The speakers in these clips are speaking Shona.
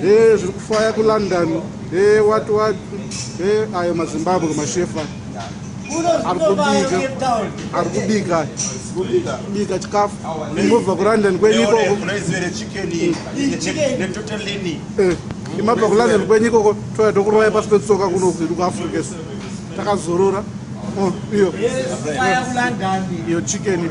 e zviri kufaya kulondon e wat wat e ayo mazimbabwe mashefa ari kubika ari kubika kubika chikafu imobva kulondon kwenyu ikoko imabva eh, kulondon kwenyu ikoko toya tokurwaya pasi petsoka kuno kwedu kuafrica su takazorora oh, iyo iyo chicken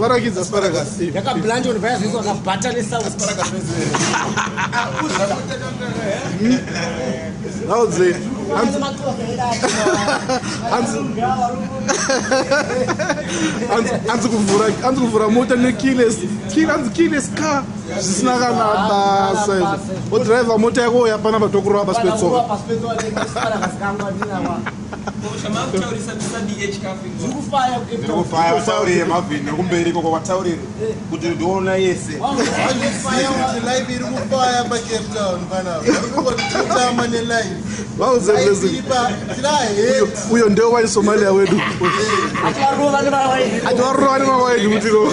varakidza sparagasiakablanjon vaya zvese vakabhata nesaunauze anzi kuvhura mota nekiles anzi kiles car zvisina kana basa izvo odriver mota yako yapana patokurova pasi petsoka kumberi koko wataurire kuti ndiona yese uyo ndeo wai somalia wedu atiwarova nemavaedu kutiro